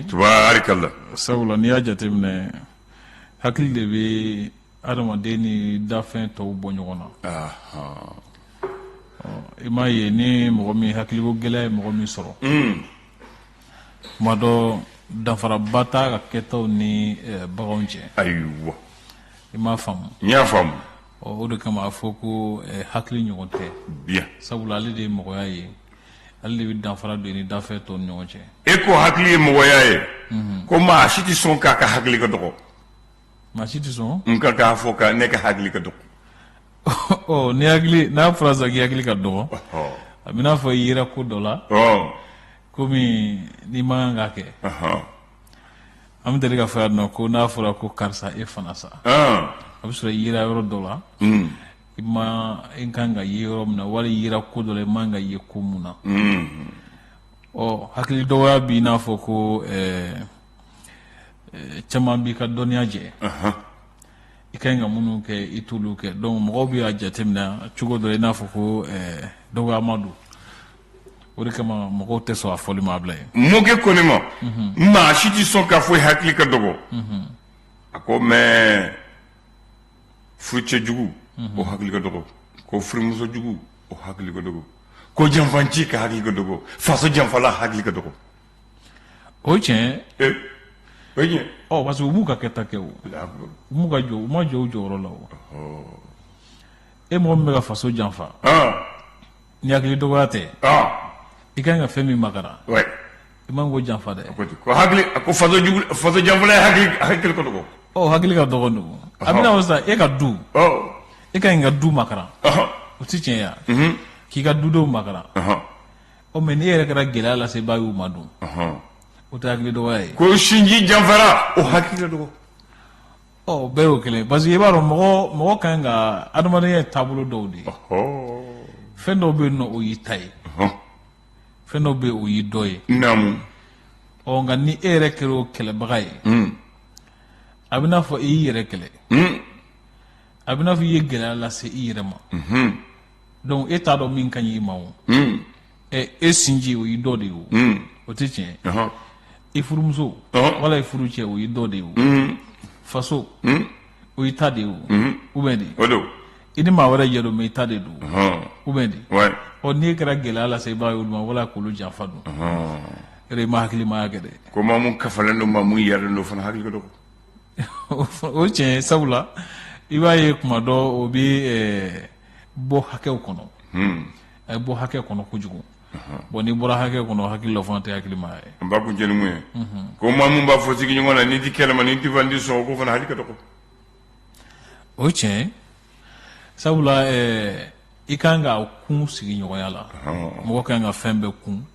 tubaarikala sabula n'i y'a jateminɛ hakili de bɛ adamaden ni dafɛn tɔw bɔ ɲɔgɔn na i m'a ye ni mɔgɔ min hakiliko gɛlɛya ye mɔgɔ min sɔrɔ hmm. tuma dɔ danfaraba t'a ka kɛtaw ni eh, baganw cɛ ayiwa i m'a faamu n y'a faamu o de kama a fɔ ko eh, hakili ɲɔgɔn tɛ sabula ale de ye mɔgɔya ye ale de bɛ danfara don ni dafɛn tɔw ni ɲɔgɔn cɛ e ko hakili ye mɔgɔya ye mhm. ko maa si tɛ sɔn k'a ka hakili ka dɔgɔ maa si tɛ sɔn n ka k'a fɔ ko ne ka hakili ka dɔgɔ ɔ ni hakili n'a fɔra sisan k'i hakili ka dɔgɔ a b'i n'a fɔ i yera ko dɔ la ko min i man kan k'a kɛ an bɛ deli k'a fɔ yan nɔ ko n'a fɔra ko karisa e fana sa a bɛ sɔrɔ i yera yɔrɔ dɔ la mm. i man kan ka ye yɔrɔ min na wala i yera ko dɔ la i man kan ka ye ko mun na ɔ hakili dɔgɔya b'i n'a fɔ ko ɛɛ caman b'i ka dɔnniya jɛ i ka ɲi ka minnu kɛ i t'olu kɛ donc mɔgɔw bɛ a jateminɛ cogo dɔ la i n'a fɔ ko ɛɛ dɔgɔyama don o de kama mɔgɔw tɛ sɔn a fɔli ma Ablayi mɔkɛ ko ne ma maa si tɛ sɔn k'a fɔ i hakili ka dɔgɔ a ko mais furucɛ jugu o hakili ka dɔgɔ ko furumuso jugu o hakili ka dɔgɔ ko janfanci ka hakili ka dɔgɔ faso janfala hakili ka dɔgɔ o tiɲɛ ee o ye tiɲɛ ɔ parce que u b'u ka kɛta kɛ o Allahu akbar. u m'u ka jɔ u ma jɔ u jɔyɔrɔ la o e mɔgɔ min bɛ ka faso janfa aa Ni hakili dɔgɔya tɛ ɔn i ka kan ka fɛn min makara ouais i man kan k'o janfa dɛ ko ten ko hakili ko faso jugu faso janfala ye hakili hakili ka dɔgɔ ɔ hakili ka dɔgɔ donc a b'i n'a fɔ sa e ka du ɔ e ka ɲi ka du makara ɔhɔn o tɛ tiɲɛ ye k'i ka dudenw makara ɔhɔn ɔ mais n'e yɛrɛ kɛra gɛlɛya lasebaa y'u ma dun ɔhɔn o tɛ hakili dɔgɔya ye ko sinji janfara o hakili ka dɔgɔ Ɔ bɛɛ y'o kelen parce que i b'a dɔn mɔgɔ mɔgɔ ka ɲi ka adamadenya ye taabolo dɔw de ye fɛn dɔw bɛ yen o y'i ta ye fɛn dɔw bɛ o y'i dɔ ye ɔ nka ni e yɛrɛ kɛra o kɛlɛbaga ye a b'i n'a fɔ e y'i yɛrɛ kɛlɛ a b'i n'a fɔ i ye gɛlɛya lase i yɛrɛ ma dɔnku e t'a dɔn min ka ɲi i ma o ɛ e sinji o y'i dɔ de ye o hmm. o tɛ tiɲɛ ye i furumuso wala i furucɛ o y'i dɔ de ye o hmm. faso hmm. o y'i ta de ye o ou bien de o don i ni maa wɛrɛ jɛ don mais i ta de don ou bien de ɔ n'i kɛra gɛlɛya lasebaa ye olu ma wala k'olu janfa don yɛrɛ i ma hakilimaya kɛ dɛ ko maa mun kafalen don maa mun yɛrɛlen don fana hakili ka dɔgɔ o tiɲɛ ye sabula i b'a ye kuma dɔw bɛ bɔ hakɛw kɔnɔ a ye bɔ hakɛ kɔnɔ kojugu bon n'i bɔra hakɛ kɔnɔ hakili la fana tɛ hakilima ye n b'a kun jelimu ye ko maa min b'a fɔ sigi ɲɔgɔn na nin tɛ kɛ ne ma nin tɛ fɔ n tɛ sɔn k'o fana hakili ka dɔgɔ o ye tiɲɛ sabula i ka kan ka kun sigi ɲɔgɔnya la mɔgɔ ka kan ka fɛn bɛɛ kun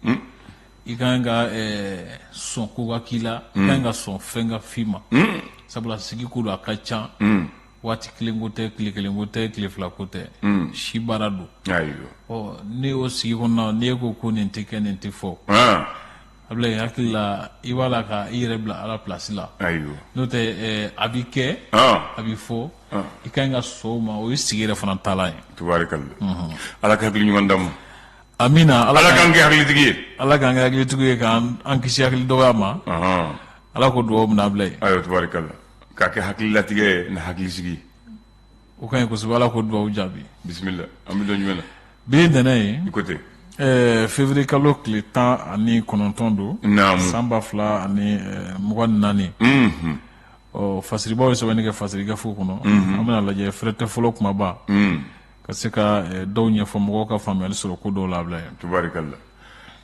i ka kan ka sɔn ko ka k'i la i ka kan ka sɔn fɛn ka f'i ma sabula sigi ko don a ka ca waati kelen ko tɛ tile kelen ko tɛ tile fila ko tɛ hmm. si baara don ne y'o sigi kɔnɔ n'i ko ko nin tɛ kɛ nin tɛ fɔ ah. a bila i hakili la i b'a la ka i yɛrɛ bila ala plasi la n'o tɛ eh, a bɛ kɛ ah. a bɛ fɔ ah. i ka kan ka sɔn o ma o ye sigi yɛrɛ fana taalan ye mhm. ala ka hakili ɲuman d'an ma amina ala k'an kɛ hakilitigi ye ala k'an kɛ hakilitigi ye k'an kisi hakili dɔgɔya ma ala k'o dugawu minɛ ablaye ayiwa tubaarikala k'a kɛ hakililatigɛ ye ni hakilisigi ye o ka ɲi kosɛbɛ ala k'o dugawu jaabi bisimila an bɛ don jumɛn na bi ye ntɛnɛn ye i ko ten ɛɛ février kalo tile tan ani kɔnɔntɔn don naamu san ba fila ani ɛɛ, mugan ni naani unhun ɔ fasiribaaw ye sɛbɛnni kɛ fasiri gafew kɔnɔ an bɛn'a lajɛ fɛrɛtɛ fɔlɔ kumaba ka se ka ɛɛ, dɔw ɲɛfɔ mɔgɔw ka faamuyali sɔrɔ ko dɔw la ablaye tubarikala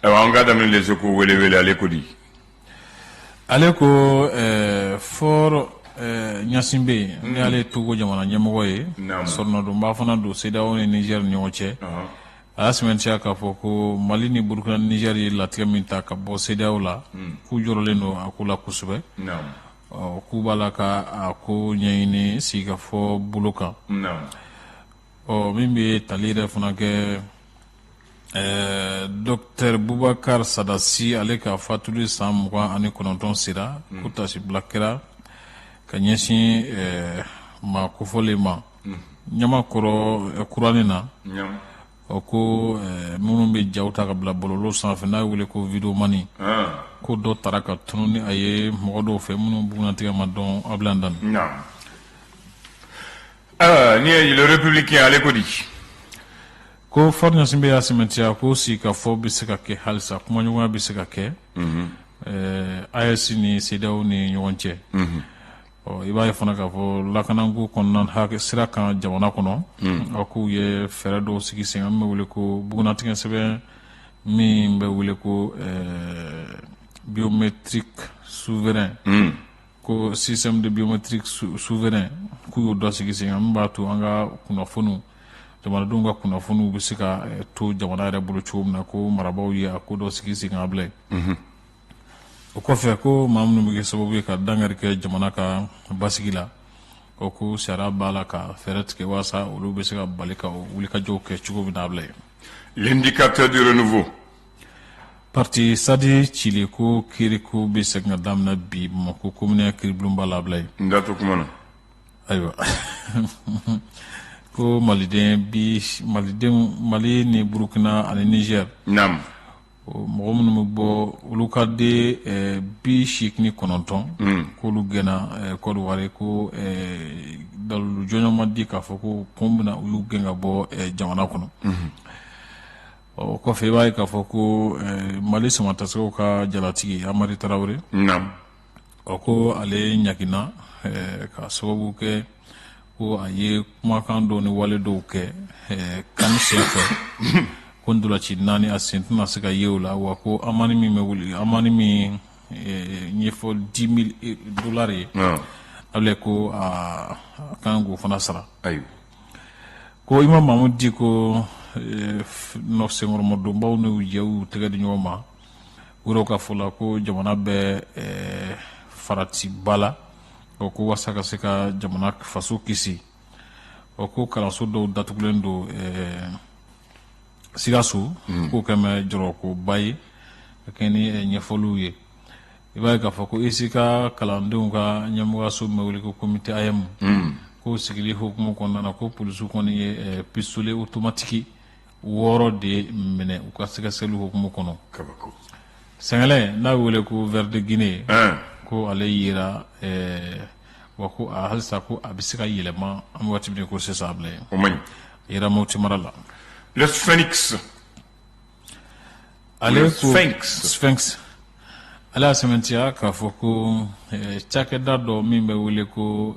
ayiwa an ka daminɛ les échos wele wele ale ko di ale ko ɛɛ faure gnassingbé n'ale ye togo jamana ɲɛmɔgɔ ye sɔrɔnadonba fana don CEDEAO ni nizɛri ni ɲɔgɔn cɛ a y'a sɛmɛntiya k'a fɔ ko mali ni burukina ni nizɛri ye latigɛ min ta ka bɔ CEDEAO la k'u jɔrɔlen don a ko la kosɛbɛ ɔ k'u b'a la ka a ko ɲɛɲini sigikafɔ bolo kan ɔ min bɛ tali yɛrɛ fana kɛ ɛɛ dɔkitɛri bubakari sada si ale ka fatuli san mugan ani kɔnɔntɔn sera hmm. ko taasibila kɛra ka ɲɛsin ɛɛ maa kofɔlen ma hmm. ɲamakɔrɔ kuranin na ɔ ko minnu bɛ jaw ta ka bila bɔlɔlɔ sanfɛ n'a wele ko videomani ah. ko dɔ tara ka tunu ni a ye mɔgɔ dɔw fɛ minnu bugunnatigɛ ma dɔn ablaye dami Ah, nin ye le républicain ale ko di ko faure gnassingbé y'a sɛmɛntiya ko sigikafɔ bɛ se ka kɛ halisa kumaɲɔgɔnya bɛ se ka kɛ mhm. eh, AES ni CEDEAO ni ɲɔgɔn cɛ mhm. i b'a ye fana k'a fɔ lakanako kɔnɔna a sira kan jamana kɔnɔ mhm. a k'u ye fɛɛrɛ dɔw sigi sen min bɛ wele ko bugunnatigɛ sɛbɛn min bɛ wele ko eh, biométrique souverain ko système de biométrique souverain k'u y'o dɔ sigi sen kan min b'a to an ka kunnafoniw jamanadenw ka kunnafoniw bɛ se ka eh, to jamana yɛrɛ bolo cogo min na ko marabaaw ye a ko dɔ sigi sen kan ablaye mhm. o kɔfɛ ko maa minnu bɛ kɛ sababu ye ka dankari kɛ jamana ka basigi la o ko sariya b'a la ka fɛɛrɛ tigɛ walasa olu bɛ se ka bali k'o wulikajɔw kɛ cogo min na ablaye L'indicateur du renouveau. Parti Sadi ciliko kiiriko bɛ segin ka daminɛ bi Bamakɔ komini ya kiiribulonba la Ablaye. N da t'o kuma na. Ayiwa ko Maliden bi Malidenw Mali ni Burukina ani Nizɛri. Naamu. mɔgɔ minnu bɛ bɔ olu ka de bi segin ni kɔnɔntɔn hmm. k'olu gɛnna kɔdiwari ko dalu jɔnjɔn ma di k'a fɔ ko kun min na u y'u gɛn ka bɔ jamana kɔnɔ hmm. ɔ kɔfɛ i b'a ye k'a fɔ ko mali samatasɛgɛw ka jalatigi amari tarawele ɔ ko ale ɲangina k'a sababu kɛ ko a ye kumakan dɔ ni wale dɔw kɛ CAN senfɛ ko ntolaci naani a sen tɛna se ka ye o la wa ko amani min bɛ wuli amani min ye fɔ dix mille dollars ye ale ko a ka kan k'o fana sara ayi ko imamu mahamudu diko n'o senkɔrɔmadonbaw n'u jɛ u tɛgɛ di ɲɔgɔn ma u yɛrɛw ka fɔ la ko jamana bɛ eh, faratiba la o ko wasa ka se ka jamana faso kisi o ko kalanso dɔw datugulen don eh, sikaso hmm. k'o kɛlen bɛ jɔrɔkoba ye ka kɛɲɛ ni eh, ɲɛfɔliw ye i b'a ye k'a fɔ ko ECICA kalandenw ka ɲɛmɔgɔyaso min bɛ wele ko komite AEEM hmm. k'o sigili hukumu kɔnɔna na ko polisiw kɔni ye pisitole otomatiki wɔɔrɔ de minɛ u ka sɛgɛsɛgɛli hukumu kɔnɔ sɛgɛlɛn n'a bɛ wele ko ver de Guinée ko ale yera wa ko halisa ko a bɛ se ka yɛlɛma an bɛ waati min ko sisan Ablaye yera moti mara la ale ale y'a sɛmɛntiya k'a fɔ ko cakɛda dɔ min bɛ wele ko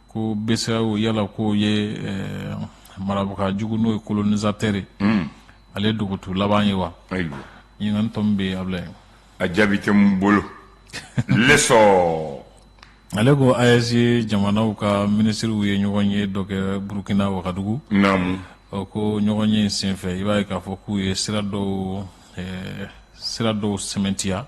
ko BCEAO yala k'o ye marabaga jugu n'o ye kolonizatɛri ye ale dogotu laban ye wa ɲininkali tomi bɛ yen Ablaye a jaabi tɛ n bolo L'Essor ale ko AES jamanaw ka minisiriw ye ɲɔgɔnye dɔ kɛ burukina wagadugu naamu ko ɲɔgɔnye senfɛ i b'a ye k'a fɔ k'u ye sira dɔw sira dɔw sɛmɛntiya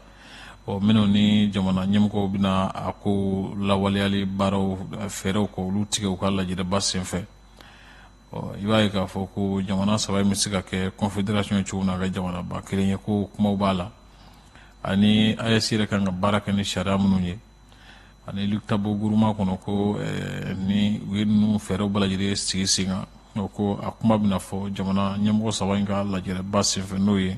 ɔ minnu ni jamana ɲɛmɔgɔw bɛna a ko lawaleyali baaraw fɛɛrɛw ko olu tigɛ u ka lajɛrɛba senfɛ ɔ i b'a ye k'a fɔ ko jamana saba in bɛ se ka kɛ confédération ye cogo min na ka jamanaba kelen ye ko kumaw b'a la ani AES yɛrɛ kan ka baara kɛ ni sariya minnu ye ani liptako guruma kɔnɔ ko eh, ni u ye ninnu fɛɛrɛw bɛɛ lajɛlen sigi sen kan ko a kuma bɛna fɔ jamana ɲɛmɔgɔ saba in ka lajɛrɛba senfɛ n'o ye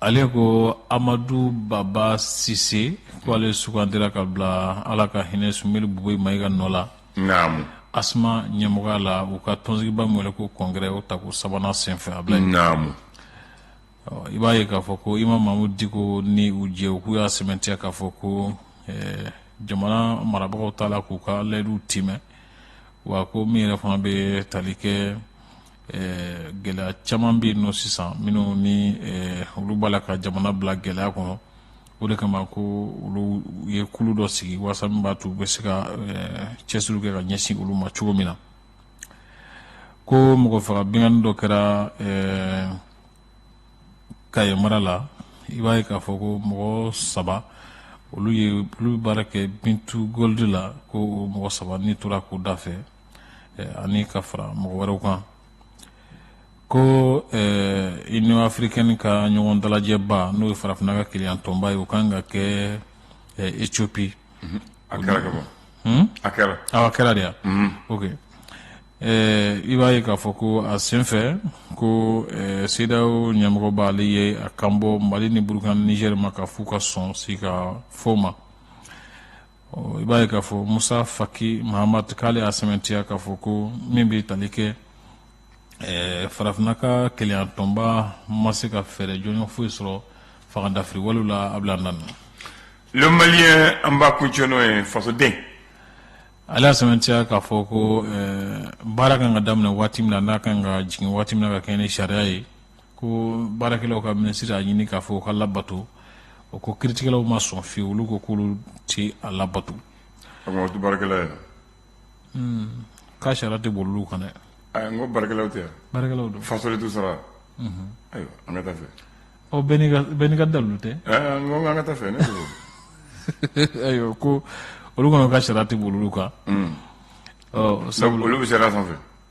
ale ko amadu baba sise k' ale sugandira ka bila ala ka hinɛ sumeyilu bubɛyi mayiga nɔ la asma ɲɛmɔgɔya la u ka tɔnsigiba min wele ko congrès o ta ko sabanan senfɛ abilayi i b'a ye k'a fɔ ko imamu mahamudu diko ni u jɛ u k'u y'a sɛmɛntiya k'a fɔ ko jamana marabagaw t'a la k'u ka layidu timɛ wa ko min yɛrɛ fana bɛ tali kɛ ɛɛ gɛlɛya caman bɛ yen nɔ sisan minnu ni ɛɛ olu b'a la ka jamana bila gɛlɛya kɔnɔ o de kama ko olu ye kulu dɔ sigi walasa min b'a to u bɛ se ka ɛɛ cɛsiriw kɛ ka ɲɛsin olu ma cogo min na ko mɔgɔ faga binkanni dɔ kɛra ɛɛ kaye mara la i b'a ye k'a fɔ ko mɔgɔ saba olu ye olu bɛ baara kɛ b2gold la ko o mɔgɔ saba ni tora k'u da fɛ ani ka fara mɔgɔ wɛrɛw kan ko union africaine ka ɲɔgɔn dalajɛba n'o ye farafinna ka kelenya tɔnba ye o kan ka kɛ éthiopie a kɛra a kɛra a kɛra de yan ok i b'a ye k'a fɔ ko a senfɛ ko sedeyawo ɲɛmɔgɔba ale ye a kanbɔ mali ni burukina ni nizɛri ma k'a fɔ u ka sɔn sigikafɔ ma i b'a ye k'a fɔ musa faki mahamat k'ale y'a sɛmɛntiya k'a fɔ ko min bɛ tali kɛ eh, farafinna ka kelenyatɔnba ma se ka fɛɛrɛ jɔnjɔn foyi sɔrɔ fangadafiri walew la abilayi nana le malien an b'a kuncɛ n'o ye fasoden ale y'a sɛmɛntiya k'a fɔ ko eh, baara kan ka daminɛ waati min na n'a kan ka jigin waati min na ka kɛɲɛ ni sariya ye ko baarakɛlaw ka minisiri y'a ɲini k'a fɔ u k'a labato o ko kiritigɛlaw ma sɔn fiyewu olu ko k'olu tɛ a labato k'a sariya tɛ boli olu kan dɛ ko baarakɛlaw tɛ baarakɛlaw don faso de t'u sara ayiwa an ka taa fɛ ɔ bɛɛ n'i ka dalu tɛ ko an ka taa fɛ ne ayiwa ko olu kɔnɔ ka sariya tɛ boli olu kan sabu olu bɛ sariya sanfɛ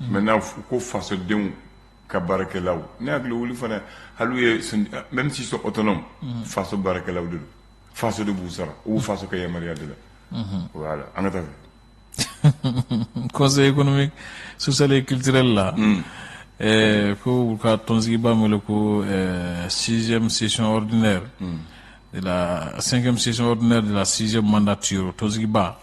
mɛ n'a fɔ ko fasodenw ka baarakɛlaw ne hakili wuli fana hali ye mɛ si sɔn oto faso baarakɛlaw de faso de b'u sara u faso ka yamaruya de la an ka kɔsa e kɔnɔmi sosali kitilen la ko u ka tɔnonsigiba wele ko siz sisɔnɔrid de la cinquième session ordinaire de la sixième mandature tɔnsigiba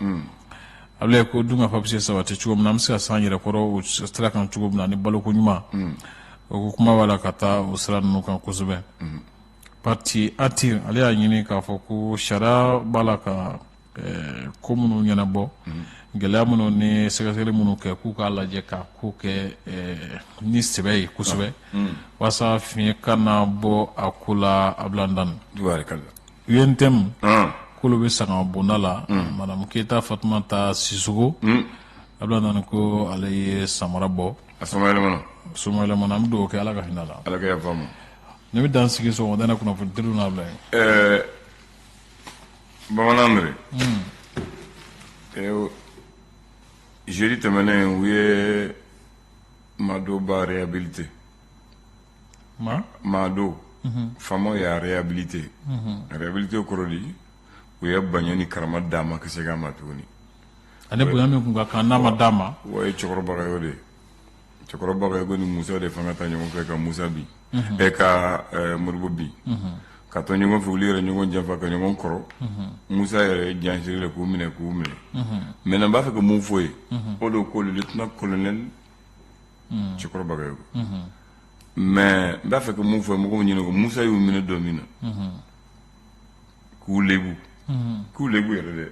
abilayi ko dunkafa bɛ se sabati cogo min na an bɛ se ka s'an yɛrɛ kɔrɔ o sira kan cogo min na ni baloko ɲuman o ko kuma b'a la ka taa o sira ninnu kan kosɛbɛ parti atir ale y'a ɲini k'a fɔ ko sariya b'a la ka Ɛɛ ko minnu ɲɛnabɔ gɛlɛya minnu ni sɛgɛsɛgɛli minnu kɛ k'u k'a lajɛ ka ko kɛ ni sɛbɛ ye kosɛbɛ walasa fiɲɛ kana bɔ a ko la a bila dan UNTM k'olu bɛ sanga bonda la madamu keyita fatumata sisɔkɔ a bila dan ko ale ye samara bɔ a so so an bɛ dugawu kɛ ala ka hinɛ la ne bɛ dan sigi sɔgɔmada in na kunnafoniw n'a bila bamanan mere jeudi tɛmɛnen u ye maa dɔ ba réhabilité maa dɔ faamaw y'a réhabilité réhabilité kɔrɔ di u ye bonya ni karama d'a ma ka segin a ma tuguni ale bonya min tun ka kan n'a ma d'a ma o ye cɛkɔrɔ bagayɔkɔ de ye cɛkɔrɔ bagayɔkɔ ni musa de fanga ta ɲɔgɔn fɛ ka musa bin e ka modibo bin ka to ɲɔgɔn fɛ olu yɛrɛ ɲɔgɔn janfa ka ɲɔgɔn kɔrɔ musa yɛrɛ jan siri de k'u minɛ k'u minɛ maintenant n b'a fɛ ka mun fɔ ye o don ko lieutenant colonel cɛkɔrɔ bagayɔkɔ mais n b'a fɛ ka mun fɔ mɔgɔw ɲɛna ko musa y'u minɛ don min na k'u lebu k'u lebu yɛrɛ dɛ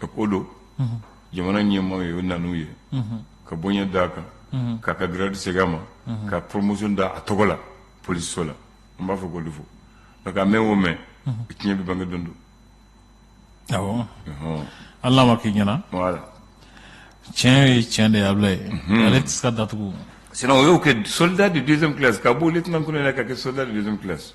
donc o don jamana ɲɛmɔgɔ y'o ŋaniya ka bonya d'a kan k'a ka grade segin a ma ka promotion da a tɔgɔ la polisiso la n b'a fɔ ko fo a mɛɛn o mɛɛn tiɲɛ bɛ bange don dɔ ala m'a k'i ɲɛna tiɲɛ ye tiɲɛ de ye abilayi ale tɛ se ka datugu sinon u y'o kɛ soldat de deuxième classe k'a bɔ lieutenant colonel la k'a kɛ soldat de deuxième classe